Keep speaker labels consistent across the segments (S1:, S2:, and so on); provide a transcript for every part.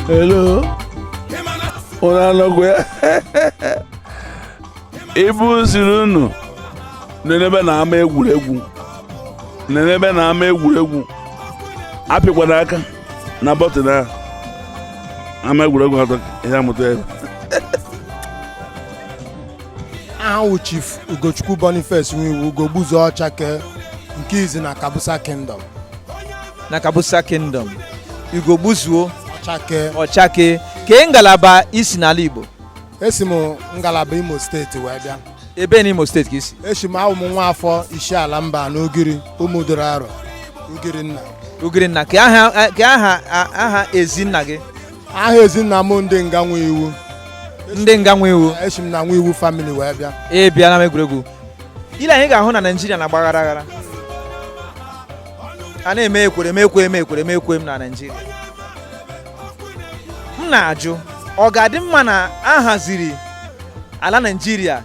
S1: Hello. Unu anọkwa ya? Ibu sịrị unu nenebe na ama egwuregwu. Nenebe na ama egwuregwu. Apịkwana aka. na bọtịn ahụ ama egwuregwu atọ ihe amụta
S2: ebe aha wụ chief ugochukwu boniface nwiwu ugogbuzuo ọchakee nke izi na kabusa kingdom
S3: na kabusa kingdom ugogbuzuo ọchakee ọchakee kee ngalaba i si n'ala igbo esi
S2: m ngalaba imo steeti wee bịa ebee na imo steeti
S3: ka i si esi m awụ m nwa
S2: afọ isiala mbanọ ugiri ụmụduru arọ ugirinna ugirinna
S3: kee aha kee aha aha ezinna gị aha ezinna
S2: m ndị nga nwiwu ndị
S3: nga nwiwu esi m na nwiwu
S2: famili wee bịa e bịala m
S3: egwuregwu ile anyị ga-ahụ na naijiria na-agba aghara aghara a na-eme ekwere m ekwe m ekwere m ekwe m na naijiria m na-ajụ ọ ga-adị mma na a haziri ala naijiria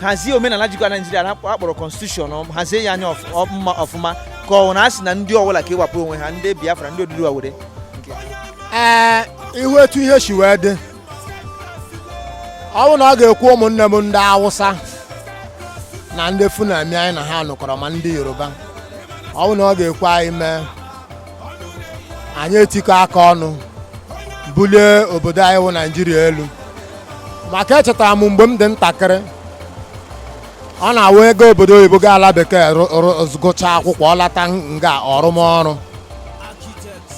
S3: hazie omenala jikwa naijiria a kpọrọ konstitushọn hazie ya anya mma ọfụma ka ọ na a sị na ndị ọbụla kewapụ onwe ha ndị biafra ndị oduduwa were
S2: ee ị hụ etu ihe si wee dị ọ bụ na ọ ga-ekwe ụmụnne m ndị awụsa na ndị fulani anyị na ha nọkọrọ ma ndị yoruba ọ bụ na ọ ga-ekwe anyị mee anyị etikọ aka ọnụ bulie obodo anyị wụ naijiria elu maka echetara m mgbe m dị ntakịrị ọ na-awụ ị gaa obodo oyibo ga ala bekee gụchaa akwụkwọ ọ lata nga ọ rụma ọrụ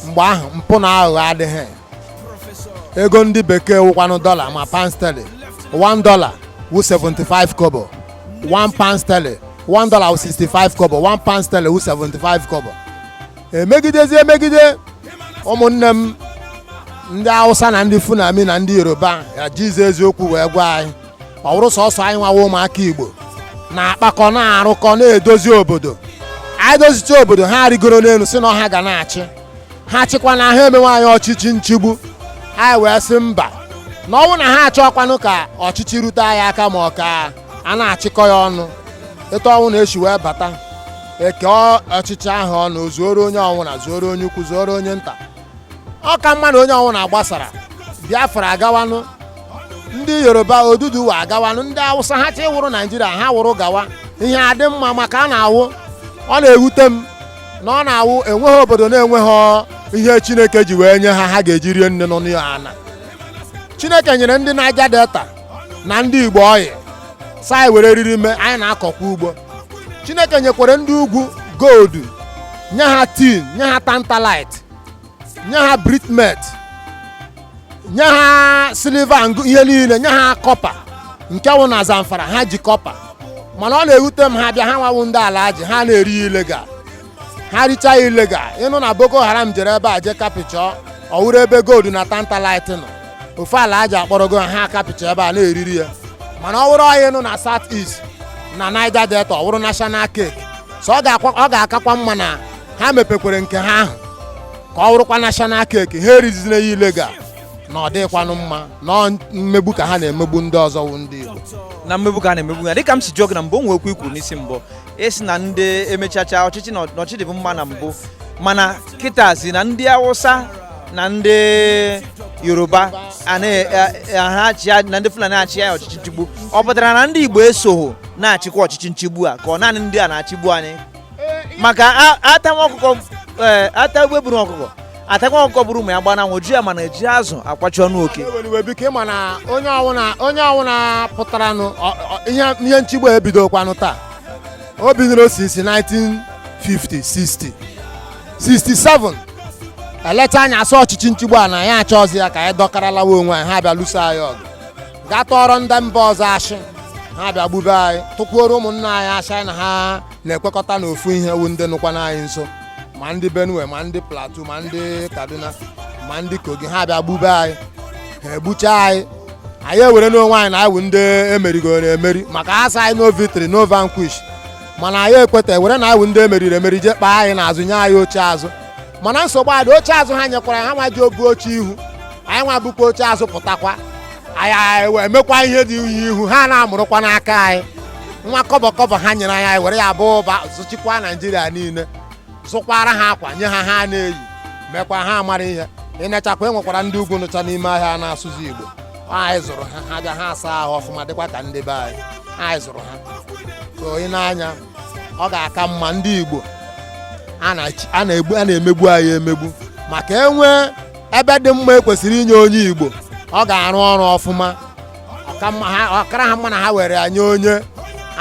S2: mgbe ahụ mpụ na aghụghọ adịghị ego ndị bekee wụkwanụ dọla ma pound sterling 1 dollar wụ 75 kobo 1 pound sterling 1 dollar wụ 65 kobo 1 pound sterling wụ 75 kobo emegidezi emegide ụmụnne m ndị awụsa na ndị fulani na ndị yoruba ya jizi eziokwu wee gwa anyị ọ bụrụ sọsọ anyị nwawa ụmụaka igbo na-akpakọ na-arụkọ na-edozi obodo anyị dozicha obodo ha arigoro n'elu sị na ọ ha ga na-achị ha chịkwanụ ha emenwe anyị ọchịchị nchigbu anyị wee sị mba na ọ wụ na ha achọkwanụ ka ọchịchị rute anyị aka ma ọ ka a na-achịkọ ya ọnụ etu ọnwụna e si wee bata e kee ọchịchị ahụ ọnụ o zuoro onye ọnwụna zuoro onye ukwu zuoro onye nta ọ ka mma na onye ọnwụna gbasara biafra agawanụ ndị yoruba oduduwa agawanụ ndị awụsa ha chọọ ịwụrụ naijiria ha wụrụ gawa ihe adị mma maka a na-awụ ọ na-ewute m na ọ na-awụ enweghị obodo na-enweghị ihe chineke ji wee nye ha ha ga-eji rie nni nọ n'ana chineke nyere ndị niger delta na ndị igbo oil sị anyị were riri mee anyị na-akọkwa ugbo chineke nyekwara ndị ugwu gold nye ha tin nye ha tantalite nye ha bitumen nye ha silver na ihe niile nye ha copper nke wụ na zamfara ha ji copper mana ọ na-ewute m ha bịa ha nwa wụ ndị alhaji ha na-eri illegal ha richaa illegal ị nụ na boko haram jere ebe a je capture ọ wụrụ ebe gold na tantalite nọ ofu alhaji akpọrọgo ha ha capture ebe a na-eriri ya mana ọ wụrụ oil nọ na south east na niger delta ọ wụrụ national cake so ọ ga-akwa- ọ ga-akakwa mma na ha mepekwere nke ha ahụ ka ọ wụrụkwa national cake ha erizina ya illegal na ọ dịghịkwanụ mma na ọ mmegbu ka ha na-emegbu ndị ọzọ wụ ndị Igbo na mmegbu ka a na-emegbu
S3: ya dịka m si jụọ gị na mbụ o nwee okwu i kwuru n'isi mbụ ị sị na ndị emechacha ọchịchị na ọchịchị dịbu mma na mbụ mana kịtazi na ndị awụsa na ndị yoruba a na-achị na ndị fulani achị ya ọchịchị nchigbu ọ pụtara na ndị igbo esoghị na-achịkwa ọchịchị nchigbu a ka ọ naanị ndị a na-achịgbu anyị maka ata nwa ọkụkọ e, ata egbe buru ọkụkọ atakwa ọkụkọ buru ụmụ ya gba n'anwụ ji ya mana eji azụ akwachi ọnụ oke biko ị ma na
S2: onye ọwụna onye ọwụna pụtaranụ ihe nchigbu ebidokwanụ taa o bidoro since 1950 60 67 eleta anya asọ ọchịchị nchigbu a na anyị achọzi ya ka anyị dọkara lawa onwe anyị ha bịa lụso anyị ọgụ gaa tụọrọ ndị mba ọzọ ashị ha bịa gbube anyị tụkwuoro ụmụnna anyị ashị na ha na-ekwekọta n'ofu ihe wụ ndị nọkwanụ anyị nso ma ndị benue ma ndị plateau ma ndị kaduna ma ndị kogi ha bịa gbube anyị ha egbucha anyị anyị ewere n'onwe anyị na anyị wụ ndị emerigoro emeri maka ha sị anyị no victory no vanquish mana anyị ekweta ewere na anyị wụ ndị emeriri emeri jee kpaa anyị n'azụ nye anyị oche azụ mana nsogbu adị oche azụ ha nyekwara ha nwa ji ebu oche ihu anyị nwa bukwa oche azụ pụtakwa anyị wee mekwa ihe dị n'ihu ha na-amụrụkwa n'aka anyị nwa kọbọ kọbọ ha nyere anyị anyị were ya baa ụba zụchikwa naijiria niile zụkwara ha akwa nye ha ha na-eyi mekwa ha mara ihe i nechakwa enwekwara ndị ugwu nọcha n'ime ahịa na-asụzi igbo anyị zụrụ ha ha bịa ha asa ahụ ọfụma dịkwa ka ndị be anyị anyị zụrụ ha so i nee anya ọ ga-aka mma ndị Igbo a na-emegbu anyị emegbu maka e nwee ebe dị mma ekwesịrị inye onye Igbo ọ ga-arụ ọrụ ọfụma ọ kara ha mma na ha were nye onye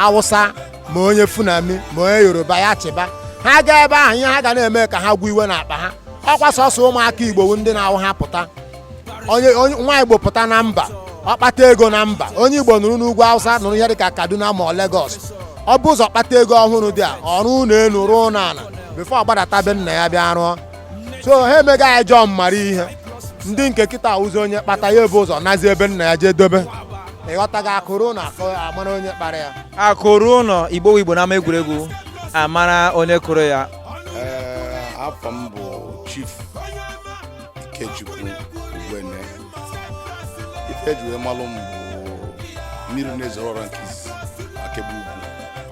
S2: Awụsa ma onye Fulani ma onye Yoruba ya achịba ha gaa ebe ahụ ihe ha ga na-eme ka ha gwụ iwe n'akpa ha ọkwa sọsọ ụmụaka Igbo wụ ndị na-awụ ha pụta onye onye- nwa igbo pụta na mba ọ kpata ego na mba onye igbo nọrọ n'ugwu awụsa nọrọ ihe dịka kaduna ma ọ legos ọ bụ ụzọ kpata ego ọhụrụ dị a ọ rụọ ụlọ elu rụọ ụlọ ala before ọ gbadata be nna ya bịa rụọ so ha emega ya jọọ mara ihe ndị nke kịta ụzọ onye kpata ya ebu ụzọ nazie be nna ya jee dobe ịghọtaghị akụ ruo ụlọ amara onye kpara ya akụ ruo ụlọ
S3: igbo wụ igbo n'ama egwuregwu amara onye kụrụ ya Ee,
S4: afa m bụ chief Ikechukwu Ugbene ife eji wee malụ m bụ mmiri na-ezoro ọra nke izizi Akegbe Ugwu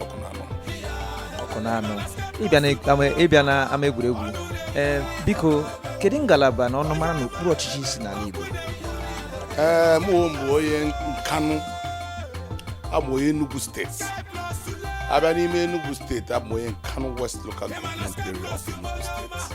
S4: Ọkụnanọ Ọkụnanọ ịbịa na ama- ịbịa
S3: na ama egwuregwu ee biko kedu ngalaba na ọnụmara na okpuru ọchịchị i si n'ala Igbo
S4: ee mụ onwe m bụ onye nkanụ abụ onye Enugu steeti abịa n'ime Enugu steeti abụ m onye nkanụ west local government area of Enugu steeti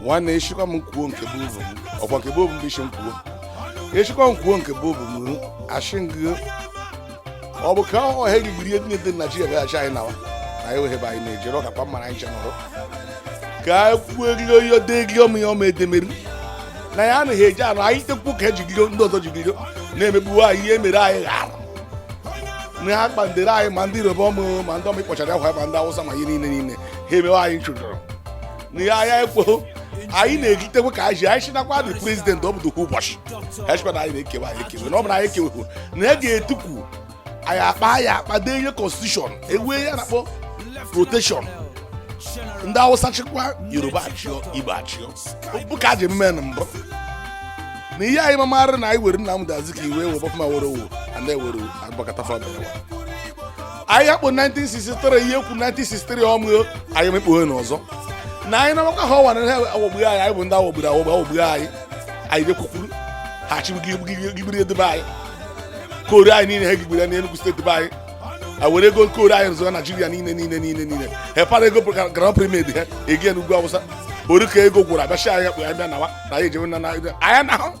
S4: nwanne a shịkwa m kwuo nke bụ obu m ọkwa nke bụ obu m bụ ị sị m kwuo a shịkwa m kwuo nke bụ obu m ashị m gị ọ bụ ka ọ ha egbiri ihe niile dị na Naịjirịa bịaghachi anyị nawa na anyị weghe ebe anyị na-ejere ọka kwa mmara anyị chenụrụ ka anyị kwuo eriri oyi ode eriri ọmụ ya ọma edemeri na ya anaghị eji anụ anyị tekwu ka ejigiro ndị ọzọ jigiro na-emegbuwe anyị ihe mere anyị ghara na ha kpandere anyị ma ndị Yoruba ọmụ ma ndị ọmụ ịkpọchara akwa ma ndị Awụsa ma ihe niile niile ha emewe anyị nchụjọrọ na ya ya ekweghị anyị na-egitekwe ka anyị ji anyị chinakwa dị president ọ bụdokwa ụbọchị ha chịkwa na anyị na-ekewa anyị ekewe na ọ bụrụ anyị ekewekwu na ya ga-etupu anyị akpa ya akpa dee ihe constitution ewee ya na-akpọ rotation ndị awụsa chịkwa yoruba achịọ igbo achịọ bụ ka e ji eme na mbụ na ihe anyị mamarị na anyị were Nnamdi Azikiwe were Obafemi Awolowo and ewere Abubakar Tafawa Balewa anyị akpụ 1963 ihe ekwu 1963 ọmụ anyị mekpughe n'ọzọ na anyị na-amakwa ha ọwa na ha aghọgbughị anyị anyị bụ ndị aghọgburu aghọgbu aghọgbughị anyị anyị jekwukwuru ha chigbugigbiri edebe anyị coal anyị niile ha gigbiri ya n'Enugu steeti be anyị a were ego coal anyị rụzụga naijiria niile niile niile niile ha para ego groundnut pyramid ha egi ya n'ugwu awụsa ori ka ego gwụrụ abịachi anyị kpụ ya bịa nawa na anyị ejewe na anyị na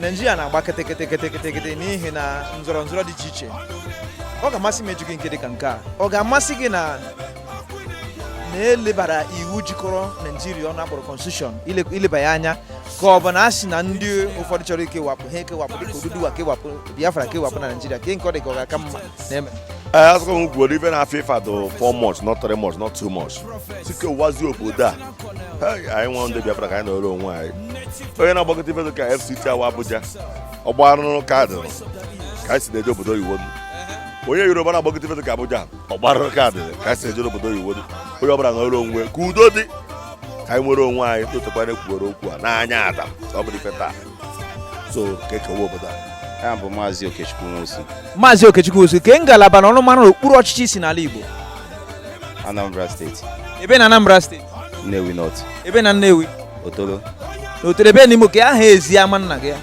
S3: naijiria na-agba kịtịkịtịkịtịkịtị n'ihi na nzọrọ nzọrọ dị iche iche ọ ga-amasị m ịjụ gị nke dị ka nke a ọ ga-amasị gị na na-elebara iwu jikọrọ naijiria ọnụ a kpọrọ constitution ileba ya anya ka ọ bụ na a sị na ndị ụfọdụ chọrọ ikewapụ ha ekewapụ dịka Oduduwa kewapụ Biafra kewapụ na naijiria ke nke ọ dị ka ọ ga-aka mma na-eme a sị ka m
S5: kwuoro ife na-afịa ịfado 4 months not 3 months not 2 months sị kewazie obodo a anyị wụ ndị Biafra ka anyị nọrọ onwe anyị onye na-agbagote ife dịka FCT a wụ Abuja ọgba arụrụ kaadị ka anyị si na-eje obodo oyibo onye Yoruba na-agbagote ife dịka Abuja ọgba arụrụ kaadị ka anyị si na-eje obodo oyibo onye ọbụla nọrọ onwe ka udo dị ka anyị nwere onwe anyị o tekwana ekwuwere okwu a n'anya ada ọ bụrọ ife taa so ka ekewa obodo a ya bụ maazị
S6: okechukwu nwosu maazị okechukwu
S3: nwosu ke ngalaba na ọnụmara okpuru ọchịchị isi n'ala igbo anambra steeti
S6: ebe
S3: na anambra steeti
S6: nnewi north ebe na
S3: nnewi
S6: otolo na otolo
S3: ebe n'ime kee aha ezi ama nna gị ya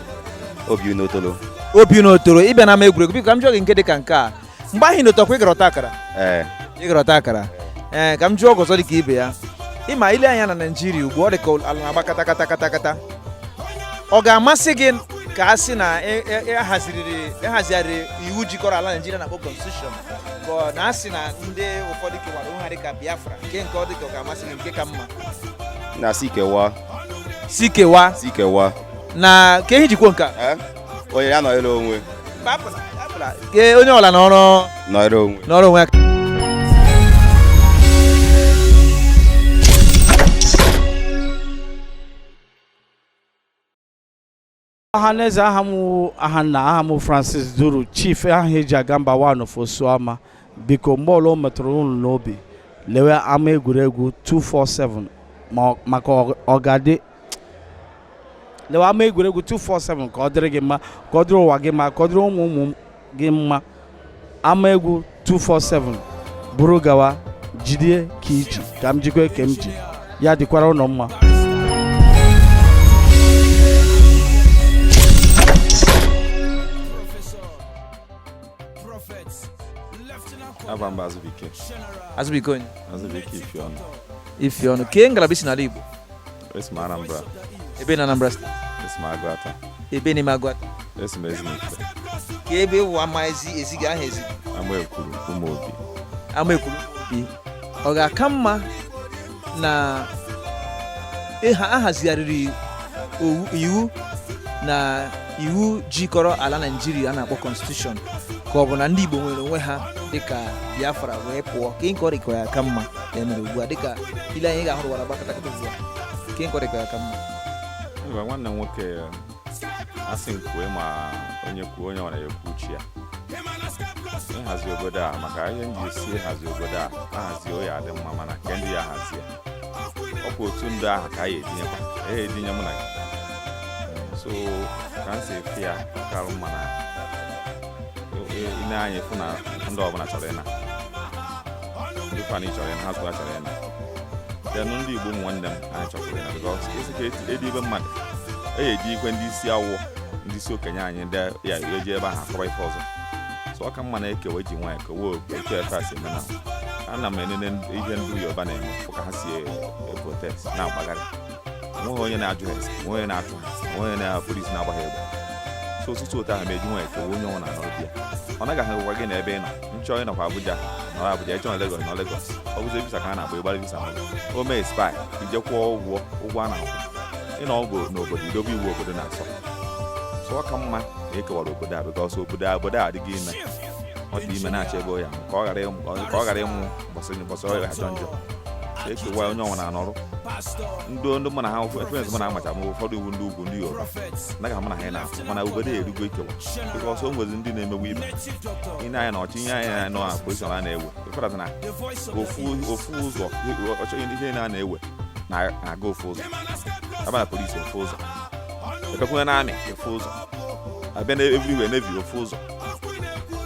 S3: obiuno
S6: otolo obiuno
S3: otolo ịbịana ama egwuregwu biko ka m jụọ gị nke dị ka nke a mgbe ahụ ịnọtakwa ịgara ọta akara ee ịgara ọta akara ee ka m jụọ gị ọzọ dị ka ibe ya ịma ile anya n'ala naijiria ugbu a ọ dị ka ala na-agba kata kata kata kata ọ ga-amasị gị ka a sị na e- e- e haziriri ehazigharịrị iwu jikọrọ ala naijiria a na-akpọ constitution ka ọ na asị na ndị ụfọdụ kewara onwe ha dị ka biafra nke nke ọ dị ka ọ ga-amasị gị nke ka mma na si
S6: kewa si kewa si kewa na ka ehi
S3: jikwo nke a Eh? onye ya
S6: nọrọ
S3: onwe Ee, onye ọla nọrọ nọrọ
S6: onwe nọrọ onwe
S7: ya ọhaneze aha m wụ ahanna aha m francis duru chief aha eji aga mba one of osuama biko mgbe ọla o metụrụ unu n'obi lewe ama egwuregwu 247 ma- maka ọ- ọ ga-adị lewa ama egwuregwu 247 ka ọ dịrị gị mma ka ọ dịrị ụwa gị mma ka ọ dịrị ụmụ ụmụ gị mma ama egwu 247 buru gawa jidie ka iji ka m jikwa ke m ji ya dịkwara unu mma
S8: Aha m bụ Azubike.
S3: Azubike onye? Azubike Ifeọnụ. Ifeọnụ.
S8: Kee ngalaba isi n'ala Igbo?
S3: Esi
S8: m Anambra. Ebe na
S3: Anambra steeti? Esi m
S8: Agụata. Ebe n'ime
S3: Agụata? Esi m
S8: Ezinifite. Ka
S3: ebe wụ ama ezi ezi gị aha ezi? Amaekwuru
S8: Ụmụobi. Amaekwuru obi.
S3: Ọ ga-aka mma na ahazigharịrị iwu na iwu jikọrọ ala Naijiria a na-akpọ Constitution ka ọ bụ na ndị Igbo nwere onwe ha dịka Biafra wee pụọ kee nke ọ dị ka ọ ga-aka mma ya mere ugbu a dịka ile anya ị ga-ahụ ụwa na-agba katakatazi kee nke ọ dị ka ya aka mma Mba, nwanne
S8: m nwoke asị m kwue ma onye kwuo onye nwe ana ekwuchie ya ịhazi obodo a maka ihe m ji sị ịhazi obodo a ahazi ọ ya-adị mma mana nke ndị ya-ahazi ya ọ bụ otu ndị ahụ ka anyị etinyekwa ya etinye mụ na gị so ka m si afụ ya ọ kara mma na ile anya afụ na ndị ọbụla chọrọ ịna dịkwa na chọrọ ịna ha zụta chọrọ ịna denụ ndị igbo ụmụ nwanne m anyị chọkwara ịna because esi ka edi ibe mmadụ eyi eji ikwe ndị isi awụ ndị isi okenye anyị ndị ya-eje ebe ahụ akọba ife ọzọ so ọ ka mma na e kewa e ji nwayọ kewa otu ife a si eme na ana m enene ihe ndị yoruba na-eme ka ha si protest na-agbagharị onweghị onye na-ajụ ha ese onweghị onye na-achụ ha onweghị onye na- police na-agba ha egbe so ọtụtụ otu ahụ ma e ji nwayọ kewa onye ọwụna anọrọ be ya ọ naghị ahụkwa gị na ebe ị nọ ị chọọ ịnọkwa abuja nọrọ abuja ị chọọ ịnọ Lagos nọ Lagos ọ bụzi visa ka a na-agba ị gbara visa mmadụ o mee expire i jee kwụọ ụgwọ ụgwọ a na-akwụ ịnọ ọgụ n'obodo i dobe iwu obodo na-asọ so ọ ka mma na e kewara obodo a because obodo a obodo a adịgo ime ọ dị ime na-achọ ebe ya ka ọ ghara ịmụ ka ọ ghara ịmụ mbọsị mbọsị ọ ga-ajọ njọ e kewa onye ọwụna anọrụ ndị ndị mụ na ha ekwensu mụ na amacha ma ụfọdụ iwu ndị ugwu ndị yoruba naghị mụ na ha ị na-afụ mana obodo erugo ikewa because o nwezi ndị na-emegbu ibe i nee anya na ọchịchị anyị a nọ na position a na-ewe ịfọdụ na ofu ụzọ ọchọghị ndị ihe na na-ewe na-aga ofu ụzọ a bịa na police ofu ụzọ ebekwuwe na army ofu ụzọ a bịa na everywhere navy ofu ụzọ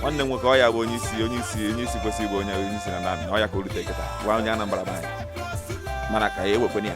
S8: nwanne nwoke ọ ya bụ onye isi onye isi onye isi kwesịrị ịbụ onye onye isi na army ọ ya ka o rute kịta bụ onye Anambra be anyị mana ka ya ewekwenye ya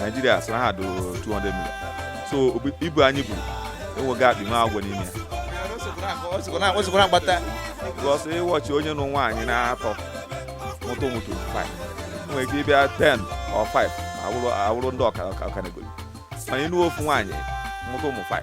S8: naijiria sị na ha dị 200 million so obi- ibu anyị buru enweghị akpị na agwọ n'ime ya osikwana agbata
S3: because ị
S8: watch onye nụ nwaanyị n'atọ mụta ụmụ 25 nwere ike ịbịa 10 or 5 awụrụ awụrụ ndị ọka ọka ọkaliogoli mana ị nụọ ofu nwaanyị mụta ụmụ 5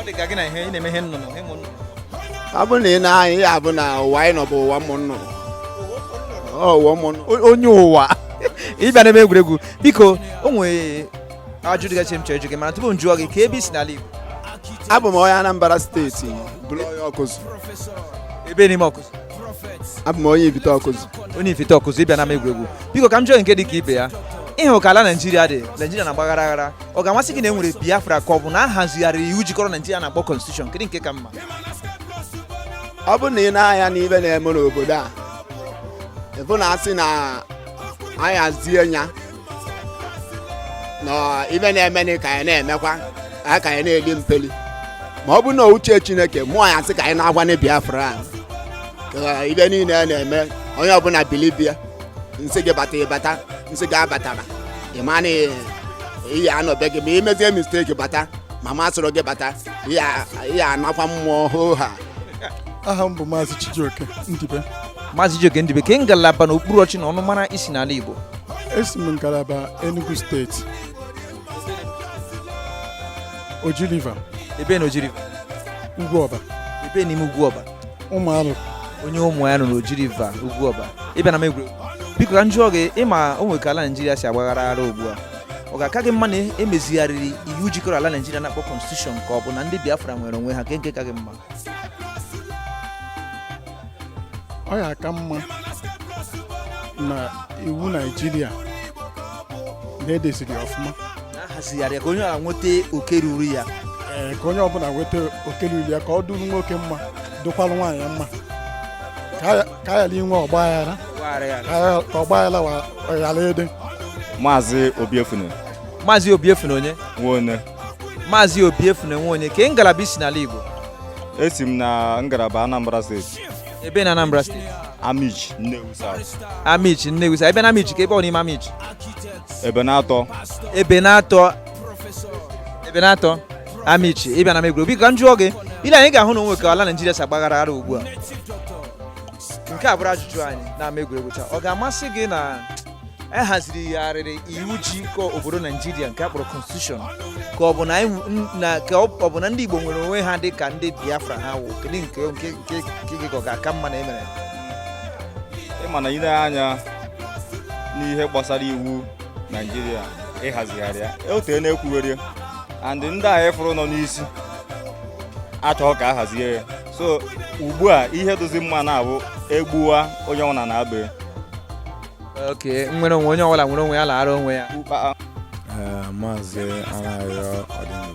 S3: ọ dị
S2: ka gị na ihe ị na-eme ihe nnụnụ ịmụ nnụnụ ọ bụrụ na i nee anya ị hụ na ụwa anyị nọ bụ
S3: ụwa
S2: ụmụ nnụnụ Ọ ụwa ụmụ nnụnụ
S3: O- onye ụwa ị bịa n'ama egwuregwu biko o nwere ajụjụ dịgasị m chọrọ ịjụ gị mana tupu m jụọ gị kee ebe i si n'ala Igbo abụ m
S9: onye Anambra steeti bụrụ onye Ọkụzụ
S3: ebee n'ime Ọkụzụ abụ m
S9: onye Ifite Ọkụzụ onye Ifite Ọkụzụ ị bịa n'ama
S3: egwuregwu biko ka m jụọ gị nke dị ka ibe ya ị hụ ka ala Naijiria dị Naijiria na-agbaghara aghara ọ ga-amasị gị na e nwere biafra ka ọ bụ na a hazigharịrị iwu jikọrọ naijiria na-akpọ constitution kedu nke ka
S9: mma ọ bụ na i nee anya n'ive na-eme n'obodo a ị vụ na a sị na anyị hazie ya na ive na-eme na ka anyị na-emekwa anyị ka anyị na-eli mpeli ma ọ bụ na uche chineke mụ ya-asị ka anyị naakwa na biafra a ka ive niile a na-eme onye ọbụna bilibia m sị gị bata ị bata m sị gị abatara ị ma na ị ya-anọ be gị ma i mezie mistake bata ma m asịrọ gị bata ị ya-anakwa mmụọ hoo ha aha m bụ
S10: maazị Chijioke Ndibe maazị Chijioke
S3: Ndibe kee ngalaba na okpuru ọchị na ọnụmara i si n'ala Igbo esi m
S10: ngalaba Enugu steeti Oji River ebee na Oji
S3: River Ugwuọba
S10: ebee n'ime Ugwuọba
S3: ụmụ
S10: arụ onye ụmụ
S3: ya nọ n'oji river ugwu ọba ị bịa n'ama egwuregwu biko ka m jụọ gị ị ma o nwere ka ala naijiria si agbaghara aghara ugbu a ọ ga-aka gị mma na emezigharịrị iwu jikọrọ ala naijiria a na-akpọ constitution ka ọ bụ na ndị biafra nwere onwe ha kee nke ka gị
S10: mma ọ ya-aka mma na iwu naijiria na edeziri ya ọfụma ahazigharị ka
S3: onye ọbụla nweta oke ruru ya ee ka onye
S10: ọbụla nweta oke ruru ya ka ọ dụrụ nwoke mma dụkwalụ nwaanyị mma ka a ghara inwe ọgba aghara ka ọgba aghara ghara ịdị maazị
S6: obiefune maazị
S3: obiefune onye
S6: nwonye
S3: maazị obiefune nwonye kee ngalaba i si n'ala igbo esi m
S6: na ngalaba Anambra steeti ebe na Anambra
S3: steeti Amichi Nnewi
S6: South Amichi Nnewi South
S3: ebe na Amichi kee ebe n'ime Amichi ebenatọ
S6: ebenatọ
S3: ebenatọ amichi ị bịa n'ama egwuregwu biko ka m jụọ gị i lee anya ị ga-ahụ na o nwe ka ala naijiria si agbaghara aghara ugbu a nke a bụrụ ajụjụ anyị n'ama egwuregwu taa ọ ga-amasị gị na ahazigharịrị iwu jikọ obodo naijiria nke a kpọrọ constitution ka ọ bụ na anyị- n- na- ka ọ ọ bụ na ndị igbo nwere onwe ha dị ka ndị biafra ha wụ kedu nke nke nke nke gị ka ọ ga-aka mma na emere
S6: ị ma na i lee anya n'ihe gbasara iwu naijiria ịhazigharị ya o tee a na-ekwugheri and ndị a ị fụrụ nọ n'isi achọghị ka a hazie ya so ugbu a ihe dụzi mma na-abụ e gbuwaa onye ọbụla na-abụ
S3: ya oke nwere onwe onye ọbụla nwere onwe ya laara onwe ya Ukpa- eh,
S11: maazị anayọ ọdịnihu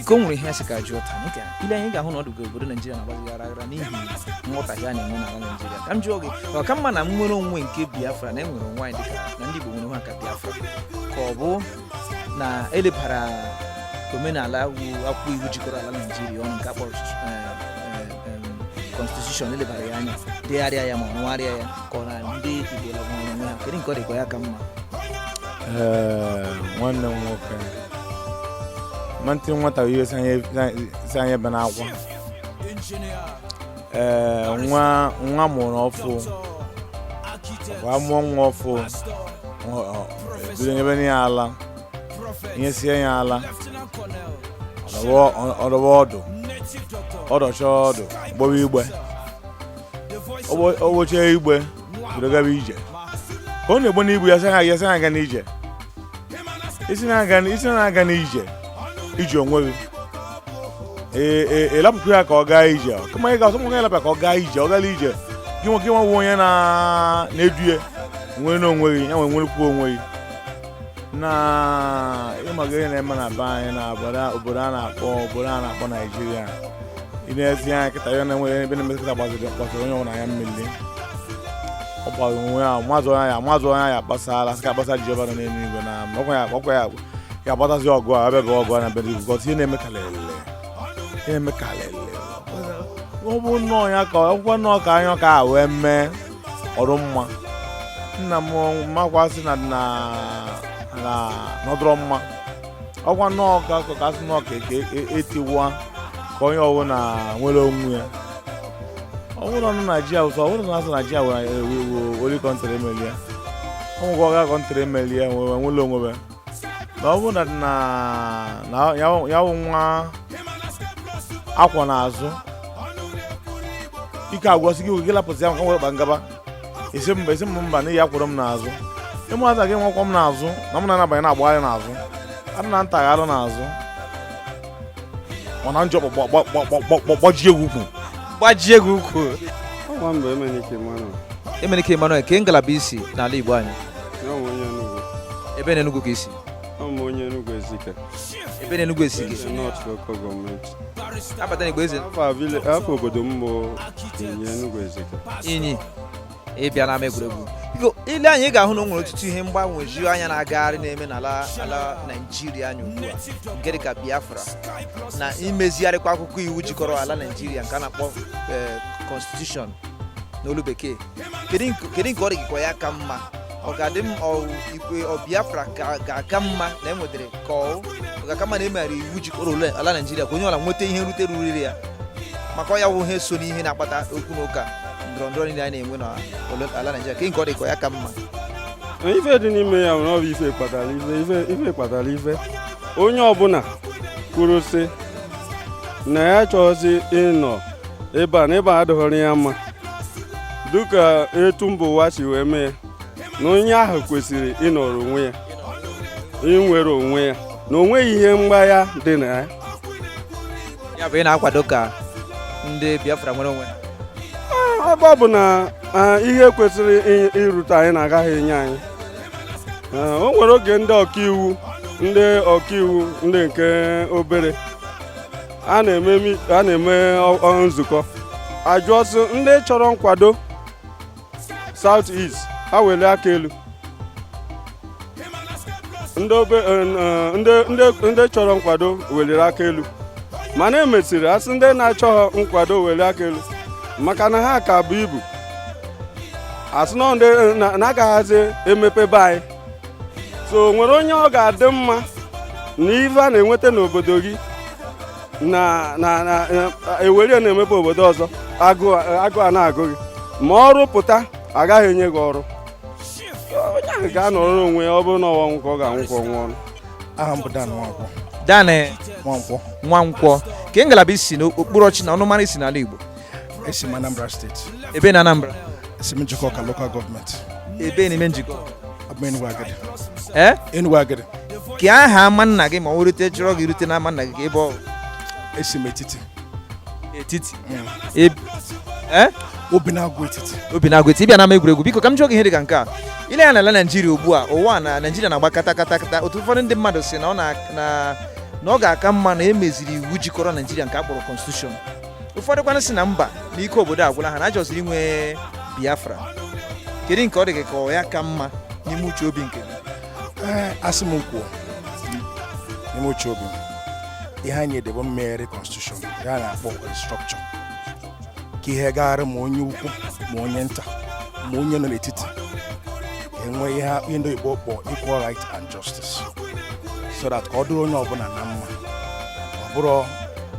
S3: iko nwere ihe a sị ka a jụọ taa ị gara i lee anya ị ga-ahụ na ọ dụgo obodo naijiria na-agbazi aghara aghara n'ihi nghọtahie a na-enwe n'ala naijiria ka m jụọ gị ọ ka mma na nnwere onwe nke biafra na enwere onwe anyị dịka na ndị igbo nwere onwe ha ka biafra ka ọ bụ na elebara omenala iwu akwụkwọ iwu jikọrọ ala naijiria ọnụ nke a kpọrọ constitution elebara ya anya degharịa ya ma rụgharịa ya ka ọ na ndị igbo lagwara onwe ha kedu nke ọ dịkwa ya ka mma Ee,
S11: nwanne m nwoke mantị nwata bụ ihe si anyị- si anyị ebe n'akwa ee nwa nwa a mụrụ ọfụụ kwa a mụọ nwa ọfụụ ọ- ọ- e bido nyebe ya ala e nyesie ya ala ọ dọwa- ọ- ọ dọwa ọdụ ọ dọchaa ọdụ gbewe igbe o gbechaa igbe bido gaba ije ka ọ na-egbo n'ibu ya sị ha ya sị ha aga n'ije isi na-aga isi na-aga n'ije iji onwe gị ee ee ị lapụkwu ya ka ọ gaa ije kama ị ga-asọ nwoke ị lapụ ya ka ọ gaa ije ọ gala ije gị nwoke nwa bụ onye na-eduye nwere n'onwe gị ya nwere nwerekwuo onwe gị na ịmaga ihe na-eme na be anyị na obodo a na-akpọ obodo a na-akpọ naijiria i nezie anya kịta ya na enweghị ebe na-emekọta gbaziri gbaziri onye ọbụla ya mmiri ọ gbara onwe ya mazụ anya ya mazụ anya ya kpasara sị ka akpasa Jehova nọ n'elu igwe na ọkwa ya ọkwa ya ga-agbatazi ọgụ a abịa ga ọgụ a na be ndị gọzi ihe na-eme kalele ihe na-eme kalele ọ bụ nnọọ ya ka ọkwa nnọọ ka anya ka a wee mee ọrụ mma nna m makwasị na na na ọ dụrọ mma ọkwa nnọọ ka ka ka asị nnọọ ka ka e- e- etiwa ka onye ọbụla nwere onwe ya ọ bụrụ na naijiria ụsọ ọ bụrụ na asị naijiria were were country emeli ya ụmụ gị ọga country emeli ya wee nwere onwe ya na ọ bụrụ na ya wụ nwa a kwọ n'azụ ike agwụsị gị gị lapụsị ya nka were kpa ngaba esi mba esi mba mba n'ihi a kwọrọ m n'azụ ịmụata gị nwa kwọ m n'azụ na m na-anabanye na-agbagharị n'azụ adị na ntaghara n'azụ mana njọ gbajie gị
S3: ukwu gbajie gị ukwu
S12: emenike emmanuel kee ngalaba i
S3: si n'ala igbo anyị ebee na enugwu ka i
S12: si ebee na
S3: enugwu
S12: ezike a bata na igbo
S3: eze afa obodo
S12: m bụ inyi
S3: ị bịa n'ama egwuregwu biko i lee anya ị ga-ahụ na o nwere ọtụtụ ihe mgbagwoju anya na-agagharị na-eme n'ala ala naijiria anyị ugbu a nke dịka biafra na imezigharịkwa akwụkwọ iwu jikọrọ ala naijiria nke a na-akpọ eh, constitution n'olu bekee kedu nke kedu nke ọ dị gị ka ọ ya-aka mma ọ ga-adị m ikwe ọ biafra ga-aka mma na e nwetara ka ọ ga-aka mma na e megharịrị iwu jikọrọ ole ala naijiria ka onye ọbụla nweta ihe nrite ruuru ya maka ọ ya wụ ihe so n'ihe na-akpata okwu na ụka ndọrọ ndọrọ niile a na-enwe na ala naijiria ka nke ọ dị ka ọ ya-aka mma
S12: ife dị n'ime ya nwere ọ bụ ife kpatara ife ife kpatara ife onye ọbụla kwuru sị na ya chọzi ịnọ ebe a na ebe a adịghọrọ ya mma dịka etu mba ụwa si wee mee na onye ahụ kwesịrị ịnọrọ onwe ya inwere onwe ya na onweghị ihe mgbagha dị na ya
S3: ya bụ ị na-akwado ka ndị Biafra nwere onwe ha
S12: ebe ọ bụ na ihe kwesịrị irute anyị na a gaghị enye anyị o nwere oge ndị ọkaiwu ndị ọkaiwu ndị nke obere a na-eme nzukọ a jụọ sị ndị chọrọ nkwado South East ha welie aka elu ndị chọrọ nkwado weliri aka elu mana e mesịrị a sị ndị na-achọghị nkwado welie aka elu maka na ha ka bu ibu a sị na a gaghịzi emepe be anyị so o nwere onye ọ ga-adị mma na ife a na-enweta n'obodo gị na na na ewere ya na-emepe obodo ọzọ agụụ agụụ a na-agụ gị ma ọrụ pụta agaghị enye gị ọrụ onye ahụ ga-anọrọ onwe ya ọ bụrụ na ọ wụ ọnwụ ka ọ ga-anwụ ka ọ nwụọ ọnwụ aha m bụ Dan
S10: Nwankwọ danị
S3: Nwankwọ
S10: nwankwọ ke ngalaba
S3: i si na okpuru ọchịchị na ọnụmara i si n'ala igbo esi m
S10: Anambra steeti ebe na
S3: Anambra esi m Njikọka
S10: lokal gọọmenti ebe n'ime
S3: Njikọka bụ Enugu Agidi ee
S10: eh? Enugu Agidi ke aha ama
S3: nna gị ma ọ rute chọrọ gị rute n'ama nna gị ke ebe ọ esi m
S10: etiti etiti mm. e,
S3: eh? Obinagụ Etiti Obinagụ Etiti ị bịa n'ama egwuregwu biko ka m jụọ gị ihe dị ka nke a i lee anya n'ala Naijiria ugbu a ị hụ na Naijiria na-agba kata kata kata otu ụfọdụ ndị mmadụ si na ọ na na ọ ga-aka mma na e meziri iwu jikọrọ Naijiria nke a kpọrọ constitution ụfọdụkwanụ si na mba na ike obodo agwụla ha na a chọziri inwe biafra kedu nke ọ dị gị ka ọ ya-aka mma n'ime uche obi nke gị ee a sị m kwuo
S10: n'ime uche obi m ihe anyị edebe mmegharị constitution a na-akpọ restructure ka ihe gaara ma onye ukwu ma onye nta ma onye nọ n'etiti enwee ihe ndị oyibo kpọrọ equal right and justice so that ka ọ dịrị onye ọbụla na mma ọ bụrọ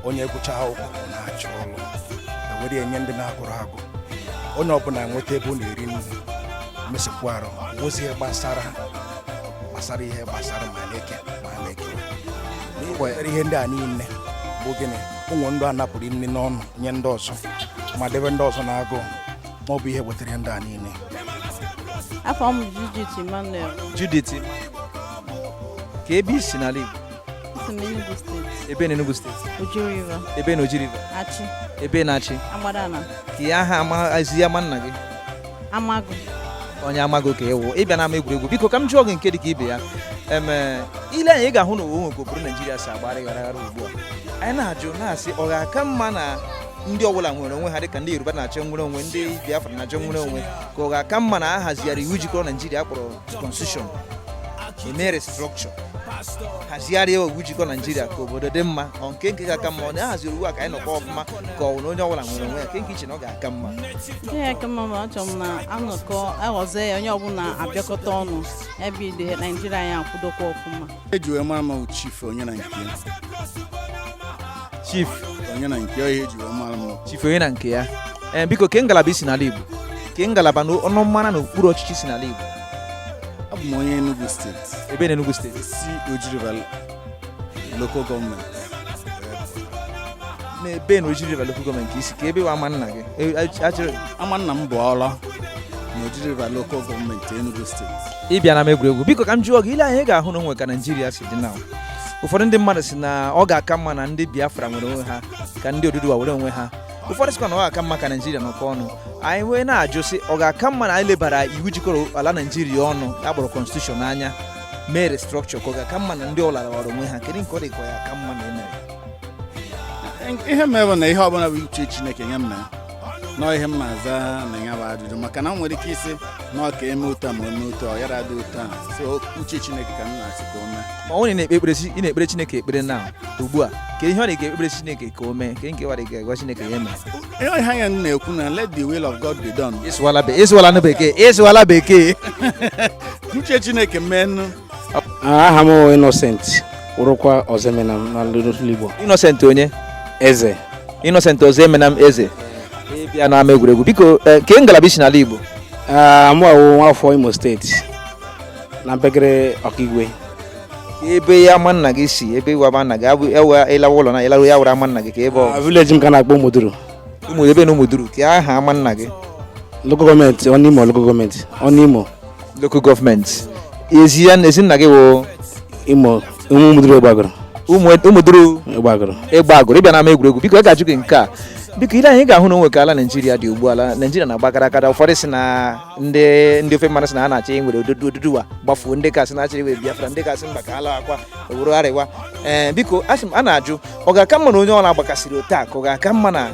S10: onye gụchaa akwụkwọ na-achọ ọrụ e were nye ndị na-agụrọ agụ onye ọbụla nweta ebe ọ na-eri nri mesịkwa arụ wozie gbasara gbasara ihe gbasara ma na-eke ma na-ekewa ihe ndị a niile bụ gịnị o nwe ndị a napụrụ nri n'ọnụ nye ndị ọzọ ma debe ndị ọzọ n'agụụ ma ọ bụ ihe wetara ihe ndị a
S13: niile abụ m Judith Emmanuel
S3: Judith ke ebe i si n'ala Igbo esi m Enugu steeti ebe na Enugu steeti Oji River ebe na Oji River Achi ebe n'Achi Agbadala kee aha amazi ama nna gị Amagu onye Amagu ka ị wụ ị bịa n'ama egwuregwu biko ka m jụọ gị nke dị ka ibe ya eme i lee anya ị ga-ahụ na o nwe ka obodo Naijiria si agba ghara ghara ugbu a anyị na-ajụ na-asị ọ ga-aka mma na ndị ọbụla nwere onwe ha dịka ndị yoruba na-achọ nnwere onwe ndị biafra na-achọ nnwere onwe ka ọ ga-aka mma na a hazigharịa iwu jikọrọ naijiria a kpọrọ constitution e mee restructure hazigharịa iwu jikọ naijiria ka obodo dị mma ọ ke nke ga-aka mma ọ na a haziri iwu a ka anyị nọkọ ọfụma ka ọ na onye ọbụla nwere onwe ya ke nke i che na ọ ga-aka mma ihe ya-aka
S13: mma ma achọrọ m na a nọkọọ a hazie ya onye ọbụla abịakọta ọnụ ebe ide naijiria ya akwụdokwa ọfụma eji wee mara
S14: m chief onye na
S3: nke chief onye na nke
S14: ya eji wee mara m chief onye na nke ya
S3: ee eh, biko ke ngalaba i si n'ala Igbo ke ngalaba na ọnụmara na okpuru ọchịchị i si n'ala Igbo abụ m
S14: onye Enugu steeti ebe na Enugu steeti
S3: esi m Oji
S14: River local
S3: gọọmenti ebe na Oji River local gọọmenti i si ke ebe wụ ama nna gị e, ama nna m bụ
S14: Awlaw na Oji River local gọọmenti Enugu steeti ị bịa n'ama egwuregwu
S3: biko ka m jụọ gị i lee anya ị ga-ahụ na o nwe ka naijiria si dị na ụfọdụ ndị mmadụ si na ọ ga-aka mma na ndị biafra nwere onwe ha ka ndị oduduwa were onwe ha ụfọdụ sịkwa na ọ ga-aka mma ka naijiria nọkọ ọnụ anyị wee na-ajụ sị ọ ga-aka mma na anyị lebara iwu jikọrọ ala naijiria ọnụ a kpọrọ constitution anya mee restructure ka ọ ga-aka mma na ndị ọlara wara onwe ha kedu nke ọ dị ka ọ ya-aka mma na e
S14: mere ihe mere bụ na ihe ọbụla bụ uche chineke ya mee na nọ ihe m na-aza na ya bụ ajụjụ maka na m nwere ike ịsị na ọ ka e mee otu a ma e mee otu a ọ yara dị otu a so uche chineke ka m na-asị ka o mee ma onye na-ekpe ekpere chi-
S3: ị na-ekpere chineke ekpere na ugbu a ka ihe ọ na-ekpere chineke ka o mee ka nke wara ga-agwa chineke ya mee ihe ọha ya m
S14: na-ekwu na let the will of god be done ị sụwala be- ị sụwala na bekee
S3: ị sụwala bekee
S14: uche chineke meenụ aha
S10: m Innocent wụrụkwa Ozemenam n'olu Igbo Innocent
S3: onye
S10: eze
S3: Innocent Ozemenam eze ị bịa n'ama egwuregwu biko eh, kee ngalaba i si n'ala Igbo ah, mụ awụ
S10: nwafọ Imo steeti na mpekere Ọkigwe kee
S3: ebe ama nna gị si ebe iwe ama nna gị abụ ebe ị lawa ụlọ na ị laruo ya wụrụ ama nna gị kee ebe ọ ah, village m ka a na-akpọ Umuduru
S10: ebee na
S3: Umuduru kee aha ama nna gị local gọọmenti
S10: Ọnụimo local gọọmenti Ọnụimo local
S3: gọọmenti ezi ya ezi nna gị wụ
S10: imo ụmụduru egbeagụrụ ụmụduru
S3: egbeagụrụ
S10: egbeagụrụ ị bịa n'ama
S3: egwuregwu biko a ga-ajụ gị nke a biko i lee anya ị ga-ahụ na o nwe ka ala naijiria dị ugbu a ala naijiria na-agba kara akara ụfọdụ si na ndị ndị ofe mmanụ si na ha na-achọ inwere odudu oduduwa gbafuo ndị ka sị na ha chọrọ iwere biafra ndị ka sị mba ka ala akwa ọ wụrụ arewa ee biko a sị m a na-ajụ ọ ga-aka mma na onye ọla gbakasịrị otu a ka ọ ga-aka mma na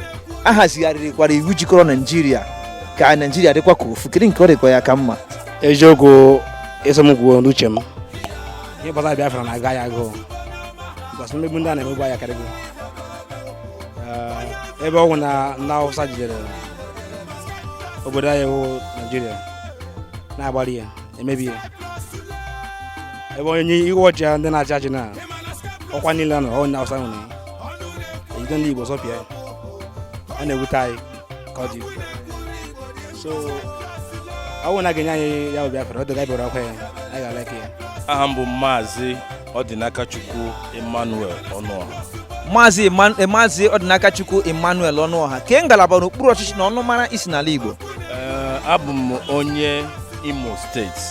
S3: a hazigharịrịkwara iwu jikọrọ naijiria ka naijiria dịkwa ka ofu kedu nke ọ dịkwa ya-aka mma eziokwu
S10: ị sị m kwuo n'uche m ihe gbasara biafra na-agụ anyị agụụ because mmegbu ndị a na-emegbu anyị akarịgo Eh, ebe ọ wụ na ndị awụsa jidere obodo anyị wụ naijiria na-agbari ya emebi ya ebe onye iwe ọjị ndị na-achị achị na ọkwa niile nọ onye awụsa nwere ya e jide ndị igbo zọpịa ya ọ na-ewute anyị ka ọ dị ukwuu. so ọ bụrụ na a ga-enye anyị ya bụ biafra ọ dịga bịara ọkwa ya anyị ga-aleke ya aha m bụ maazị
S15: Ọdịnakachukwu Emmanuel Ọnụọha
S3: Maazị Maazị Ọdịnakachukwu Emmanuel Ọnụọha kee ngalaba n'okpuru ọchịchị na ọnụmara i si n'ala Igbo
S15: abụ m onye Imo steeti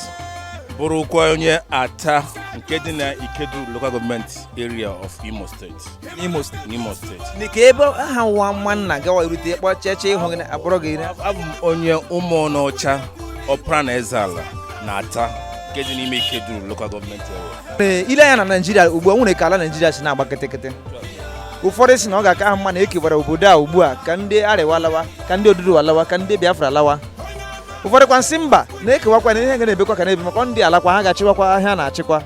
S15: bụrụkwa onye Atta nke dị na Ikeduru local gọọmenti area of Imo steeti n'imo steeti n'imo steeti Ni ka ebe ahụ
S3: wụ ama nna gawa erute ịkpọ cheche ịhụ gị na- abụrụ gị na- abụ m
S15: onye ụmụọnụ ọcha ọpara na ezeala na atta nke dị n'ime ikeduru lokal gọọmenti area Ee, i lee anya na naijiria
S3: ugbu a e nwere ka ala naijiria si na-agba kịtịkịtị ụfọdụ sị na ọ ga-aka ha mma na e kewara obodo a ugbu a ka ndị arewa lawa ka ndị oduduwa lawa ka ndị biafra lawa ụfọdụ kwa sị mba na e kewakwa na a ga na-ebikwa ka a na-ebi maka ọ ndị alakwa ha ga-achịwakwa ihe a na-achịkwa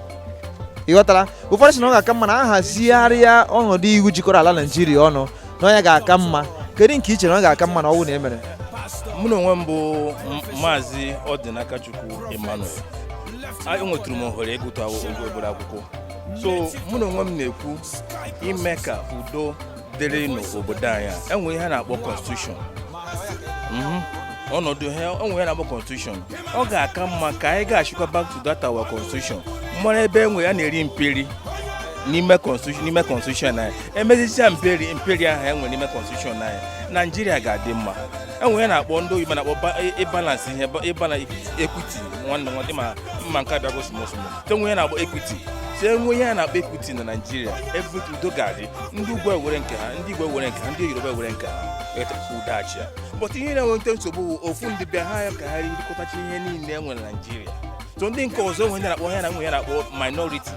S3: ị ghọtara ụfọdụ sị na ọ ga-aka mma na a hazigharịa ọnọdụ iwu jikọrọ ala naijiria ọnụ na ọ ya ga-aka mma kedu nke i chere na ọ ga-aka mma na ọ wụ na e mere mụ na onwe m
S15: bụ M- maazị ọdịnakachukwu emmanuel A- enwetụrụ m ohere ịgụtụ akwụ- ogo obere akwụkwọ so mụ na onwe m na-ekwu ime ka udo dịrị n'obodo anyị a, e nwe ihe a na-akpọ constitution Mhm. ọnọdụ ihe e nwe ihe a na-akpọ constitution ọ ga-aka mma ka anyị gachikwa back to that our constitution mara ebe e nwe a na-eri mperi n'ime constitution n'ime constitution anyị e mezichaa mperi mperi ahụ e nwe n'ime constitution anyị naijiria ga-adị mma e nwe ihe a na-akpọ ndị oyibo na-akpọ ba- ịbalance ihe ba- ịbala equity nwanne nwanne ma mma nke abịa gosi mosmo e nwe a na-akpọ equity e nwe ihe a na-akpọ equity na naijiria ebe udo ga-adị ndị ugwu ewere nke ha ndị igbo ewere nke ha ndị yoruba ewere nke ha etakwa udo achịa but ihe na-eweta nsogbu bụ ofu ndị bịa ha ya ka ha rikọtacha ihe niile e nwere na naijiria so ndị nke ọzọ e nwe ndị a na-akpọ ha e nwe ihe a na-akpọ minority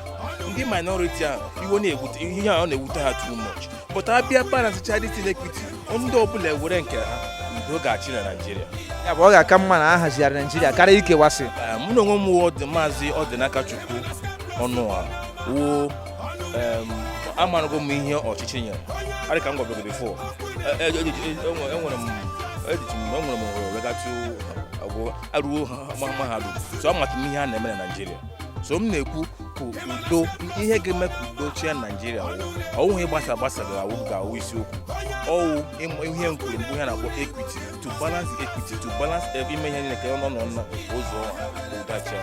S15: ndị minority ahụ iwe na-ewute ihe a ọ na-ewute ha too much but a bịa balancechaa the equity ndị ọbụla ewere nke ha udo ga-achị na naijiria ya bụ ọ ga-aka
S3: mma na a hazigharị naijiria karịa
S15: ikewasị eh, mụ na onwe m wụ
S3: maazị ọdịnakachukwu ọnụọha
S15: wụ amarago m ihe ọchịchị nyere adị ka m gwabegoro before enwere m ejichi m enwere m ohere wee gatụ agwụ aruo mahadum so amatụ m ihe a na-eme na naijiria so m na-ekwu ka udo ihe ga-eme ka udo chịa naijiria wụ ọ wụ ihe gbasa gbasa gara awụ ga-awụ isiokwu ọ wụ ịm- ihe m kwuru mbụ ihe a na-akpọ equity to balance the equity to balance every ime ihe niile ka ọ nọ nọ nọ ụzọ ọha ka udo achịa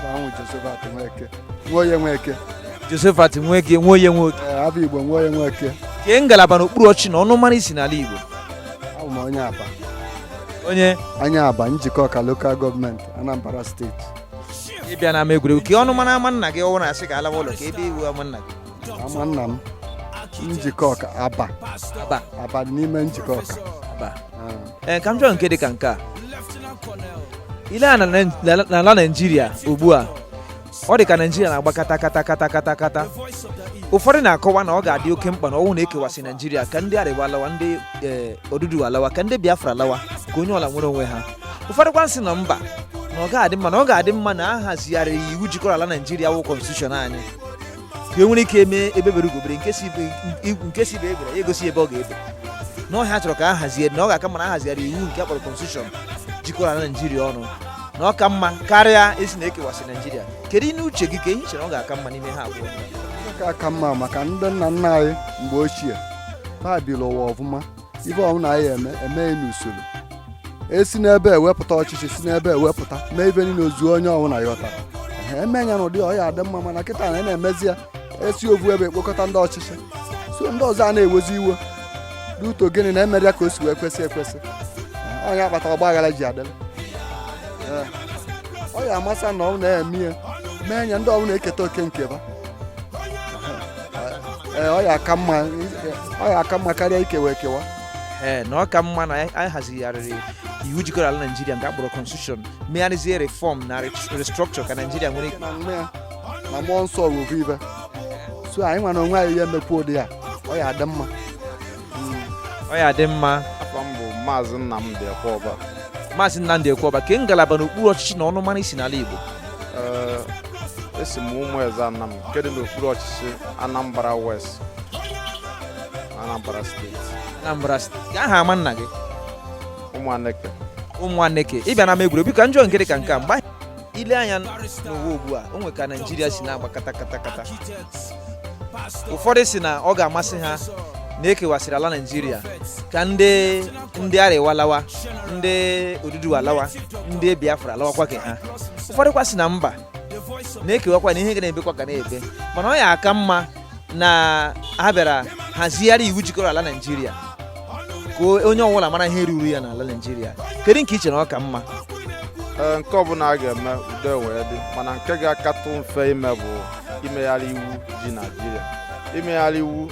S15: ahụ josephat nweke
S3: nwoye nweke josephat nweke nwoye nwoke ee abụ igbo
S16: nwoye nweke kee ngalaba
S3: n'okpuru ọchịchị na ọnụmara i si n'ala igbo abụ m onye
S16: abba onye
S3: onye abba
S16: njikọka lokal gọọmenti anambra steeti ị
S3: bịa na ama egwuregwu kee ọnụmara ama nna gị ọ wụ na a sị ka a lawa ụlọ kee ebe wụ ama nna gị ama nna
S16: m njikọka abba abba abba dị n'ime njikọka abba ee
S3: ka m jụọ nke dị ka nke a i lee anya n'ala naijiria ugbu a ọ dị ka naijiria na-agba kata kata kata kata kata ụfọdụ na-akọwa na ọ ga-adị oke mkpa na ọ wụ na e kewasị naijiria ka ndị arewa alawa ndị oduduwa alawa ka ndị biafra alawa ka onye ọla nwere onwe ha ụfọdụ kwa sị na mba na ọ ga-adị mma na ọ ga-adị mma na a hazigharịrị iwu jikọrọ ala naijiria wụ kọnstitushọn anyị ka e nwere ike mee egbe bere ugo bere nke sị ibe nke sị ibe ebela ya egosi ebe ọ ga-ebe na ọ ihe ha chọrọ ka a hazie na ọ ga-aka mma na a hazigharị iwu nke akpọrọ kọnstitushọn jikọrọ ala naijiria ọnụ na ọ ka mma karịa ịsị na ekewasị naijiria kedu n'uche gị ke i chere ọ ga-aka mma n'ime ha abụọ ka aka mma
S16: maka ndị nna nna anyị mgbe ochie ha biri ụwa ọfụma ife ọbụla anyị eme e mee ya n'usoro e si n'ebe a wepụta ọchịchị si n'ebe a wepụta mee ife niile ozuo onye ọbụla yọta eme ya n'ụdị ọ ya adị mma mana kịta a na-emezi ya esi ovu ebe ekpokọta ndị ọchịchị so ndị ọzọ a na-ewezi iwe n'uto gịnị na emerọ ya ka o si wee kwesị ekwesị ọ ya akpata ọgba aghara ji adịla ọ ya amasị na ọ na-eme ya mee ya ndị ọbụla eketa oke nke ba ee ọ ya aka mma ọ ya aka mma karịa ikewa ekewa ee na ọ ka
S3: mma na anyị anyị hazigharịrị iwu jikọrọ ala naijiria nke akpọrọ constitution megharịzie reform na restructure ka naijiria nwere ike na nwa ya na
S16: mmụọ nsọ wuru ibe so anyị nwa n'onwe anyị ya emekwa ụdị ya ọ ya adị mma ọ ya adị
S8: mma afa m bụ maazị Nnamdị Ekweọba maazị
S3: Nnamdị Ekweọba kee ngalaba n'okpuru ọchịchị na ọnụmara i si n'ala Igbo
S8: esi m Ụmụeze Anam nke dị n'okpuru ọchịchị Anambra West Anambra steeti Anambra steeti kee aha ama nna gị
S3: ụmụ aneke ụmụ aneke ị bịa na ama egwuregwu ka m jụọ nke dị ka nke a mgbe i lee anya n'ụwa ugbu a o nwe ka naijiria si na-agba kata kata kata ụfọdụ sị na ọ ga-amasị ha na ekewasịrị ala naijiria ka ndị ndị arewa lawa ndị oduduwa lawa ndị biafra lawakwa ke ha ụfọdụkwa sị na mba na ekewakwana ya a ga na-ebekwa ka a na-ebe mana ọ ya aka mma na ha bịara hazigharị iwu jikọrọ ala naijiria ka onye ọbụla mara ihe ruru ya n'ala naijiria kedu nke i chere ọ ka mma Ee, nke
S8: ọbụla a ga-eme udo wee dị mana nke ga-akatụ mfe ime bụ imegharị iwu ji naijiria imegharị iwu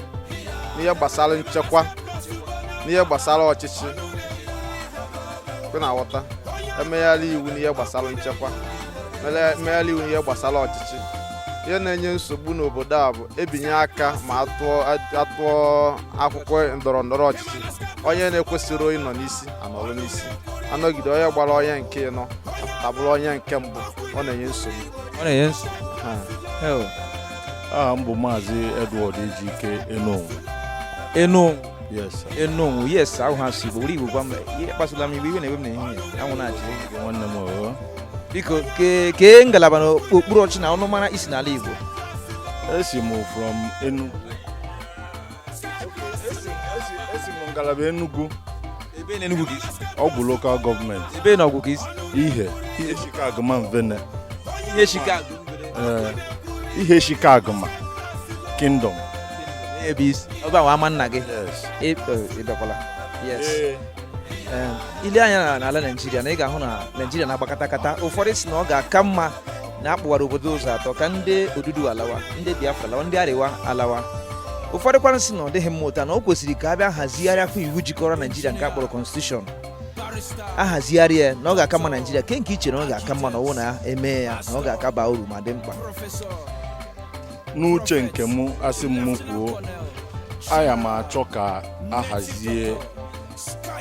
S8: n'ihe gbasara nchekwa n'ihe gbasara ọchịchị ị na-aghọta emegharị iwu n'ihe gbasara nchekwa mere- emegharị iwu n'ihe gbasara ọchịchị ihe na-enye nsogbu n'obodo a bụ ebinye aka ma atụọ atụọ akwụkwọ ndọrọ ndọrọ ọchịchị onye na-ekwesịrọ ịnọ n'isi anọrọ n'isi anọgide onye gbara onye nke ịnọ apụta bụrụ onye nke mbụ ọ na-enye nsogbu ọ na-enye nsogbu Ha.
S11: Hell, aha m bụ maazị edward ejike enonwu enu
S3: enonwu yes ahụ ha si were igbo gwa m ihe kpasụla m iwe iwe na-ewe m na ihe anwụ na-achị nwanne m
S11: oh. biko
S3: kee ngalaba na okpuru ọchị na ọnụmara i si n'ala igbo esi
S11: m from Enugu esi m ngalaba Enugu ebe na
S3: Enugu Ọgwụ lokal
S11: gọọmenti ebe na Ọgwụ ka i
S3: si Ihe Ihe
S11: Shikeaguma mvene Ihe Shika
S3: eh, Ihe Shikeaguma
S11: kingdom
S3: ebe i si ebe ahụ ama nna gị Ị- eh, ị bịakwala yes Em, i lee anya na- n'ala naijiria na ị ga-ahụ na naijiria na-agba katakata ụfọdụ sị na ọ ga-aka mma na a kpọwara obodo ụzọ atọ ka ndị Oduduwa alawa ndị biafra alawa ndị Arewa alawa ụfọdụ kwanụ sị na ọ dịghị mma otu a na o kwesịrị ka a bịa hazigharịakwa iwu jikọrọ naijiria nke a kpọrọ constitution a hazigharịa ya na ọ ga-aka mma naijiria kee nke i che na ọ ga-aka mma na ọ wụ na e mee ya na ọ ga-aka aba uru ma dị mkpa n'uche
S11: nke mụ a sị m mụ kwuo aya m achọ ka a hazie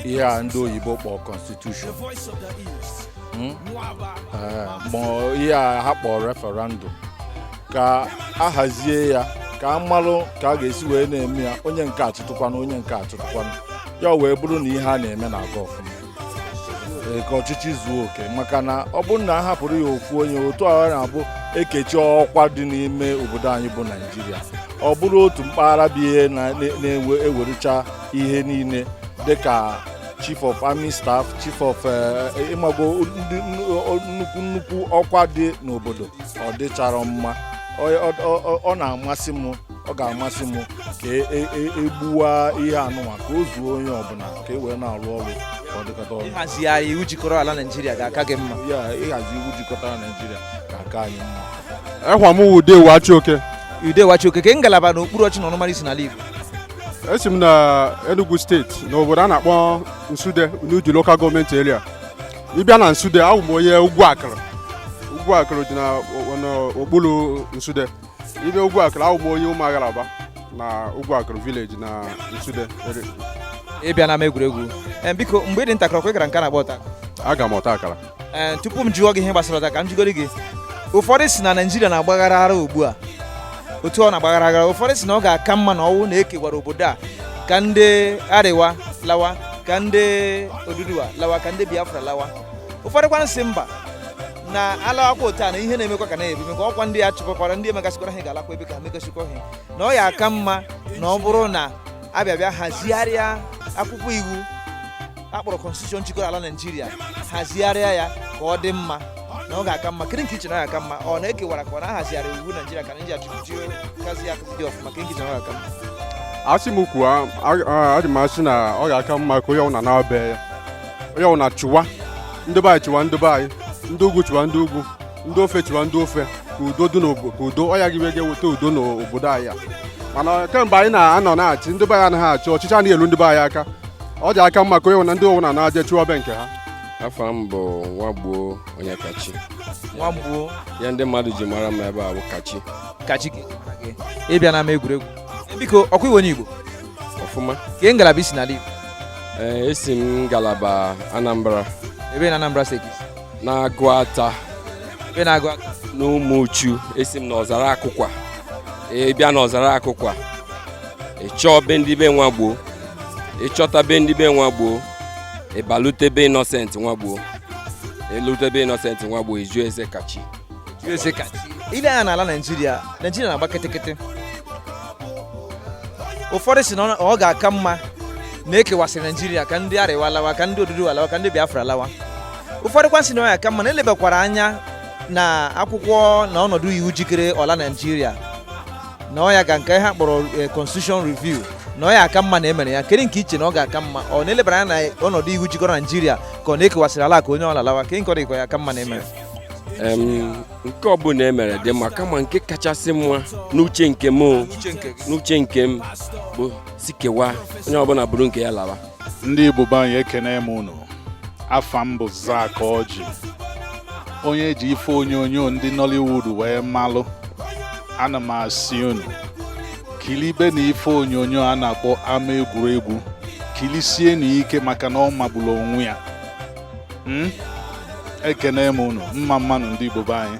S11: ihe a ndị oyibo kpọọ constitution Hmm? Eh, ma ihe a ha kpọọ referendum ka a hazie ya ka a malụ ka a ga-esi wee na-eme ya onye nke a chịtụkwanụ onye nke a chịtụkwanụ ya wee bụrụ na ihe a na-eme na-aga ọfụma e, ka ọchịchị zuo oke maka na ọ bụrụ na a hapụrụ ya ofu onye otu a na-abụ e kechaa ọkwa dị n'ime obodo anyị bụ naijiria ọ bụrụ otu mpaghara bụ ihe na-ewerucha ihe niile dịka chief of army staff chief of eh, ị mago ndị nnukwu nnukwu ọkwa dị n'obodo ọ dịcharọ mma Ọ- ọ- ọ- ọ- ọ na-amasị m ọ ga-amasị m ka e- e- e- e gbuwaa ihe anụnwa ka o zuo onye ọbụla ka e wee na-arụ ọrụ ka ọ dịkọta ọnụ ịhazigharị
S3: iwu jikọrọ ala naijiria ga-aka gị mma ya ịhazi iwu
S11: jikọtara naijiria ga-aka anyị mma ekwa m wụ ude wachi
S17: oke ude wachi oke kee ngalaba
S3: na okpuru ọchị na ọnụmara i si n'ala igbo esi m
S17: na Enugu steeti na obodo a na-akpọ Nsude n'Udi local gọọmenti area ị bịa na Nsude awụ m onye ugwu akụrụ ugwu akụrụ dị na o- na okpuru Nsude ị bịa ugwu akụrụ awụ m onye ụmụagharaba na ugwu akụrụ village na Nsude area.
S3: ị bịana ama egwuregwu Em, biko mgbe ị dị ntakịrị ọkwa ị gara nke a na-akpọ ọta akara aga m ọta akara
S17: ee tupu m jụọ
S3: gị ihe gbasara ọta ka m jụgodu gị ụfọdụ sị na naijiria na-agba aghara aghara ugbu a otu ọ na-agba aghara aghara ụfọdụ sị na ọ ga-aka mma na ọ wụ na e kewara obodo a ka ndị Arewa lawa ka ndị oduduwa lawa ka ndị biafra lawa ụfọdụ kwanụ sị mba na a lawakwa otu a na ihe na-emekwa ka na-ebi mekwa ọkwa ndị a chụpụkwara ndị emegasịkwara ha ga-alakwa ebe ka ha megasịkwa ha na ọ ga-aka mma na ọ bụrụ na a bịa bịa hazigharịa akwụkwọ iwu akpọrọ constitution jikọrọ ala naijiria hazigharịa ya ka ọ dị mma na ọ ga-aka mma kedu nke iche na ọ ga-aka mma ọ na-ekewara ka ọ na-ahazigharị iwu naijiria ka naijiria jiri kazi ya dị ọfụma kedu nke iche na ọ ga-aka mma asị
S17: m kwuo aja m asị na ọ ga-aka mma ka onye ọbụla naa be ya onye ọbụla chịwa ndị be anyị chịwa ndị be anyị ndị ugwu chịwa ndị ugwu ndị ofe chịwa ndị ofe ka udo dị n'obodo ka udo ọ ya gị ga-eweta udo n'obodo anyị mana kemgbe anyị na-anọ na-achị ndị be anyị anaghị achị ọchịchị anaghị elu ndị be anyị aka ọ ja-aka mma ka onye ọbụna ndị ọwụna na-aje chịwa be nke ha afa m bụ
S18: nwagbuo onyekachi
S3: nwagbuo ya ndị
S18: mmadụ ji mara m ebe a bụ kachi kachi ị
S3: bịa na ama egwuregwu biko ọkwa ị wụ onye igbo ọfụma
S18: ke ngalaba i
S3: si n'ala igbo ee esi
S18: m ngalaba anambra ebe na anambra
S3: steeti n'aguata
S18: ebe
S3: n'aguata n'umuchu
S18: esi m n'ọzara akụkwa ị bịa n'ọzara akụkwa ị chọọ be ndị be nwagbuo ị chọta be ndị be nwagbuo ị balute be innocent nwagbuo i lute be innocent nwagbuo ị jụ ese kachi jụọ ese kachi
S3: i lee anya n'ala naijiria naijiria na-agba kịtịkịtị ụfọdụ sị na ọ- ọ ga-aka mma na ekewasịrị naijiria ka ndị arewa lawa ka ndị oduduwa lawa ka ndị biafra lawa ụfọdụ kwa sị na ọ ya-aka mma na elebakwara anya na akwụkwọ na ọnọdụ iwu jikọrọ ala naijiria na ọ ya ga nke a kpọrọ eh, constitution review na ọ ya-aka mma na emere ya kedu nke iche na ọ ga-aka mma ọ na-elebara anya na ọnọdụ iwu jikọrọ naijiria ka ọ na-ekewasịrị ala ka onye ọbụla lawa kedu nke ọ dịkwa ya aka mma na emere
S18: Em, nke ọbụla emere dị mma kama nke kachasị mma n'uche nke m o, n'uche nke m bụ sị kewaa onye ọbụla buru nke ya lawa ndị Igbo be
S19: anyị ekene m unu afa m bụ Zack Orji onye eji ife onyonyo ndị Nollywood wee malụ ana m asị unu kilibenụ ife onyonyo a na-akpọ ama egwuregwu kilisienụ ike maka na ọ magbulu onwe ya hmm? ekene m unu mma mma nụ ndị Igbo be anyị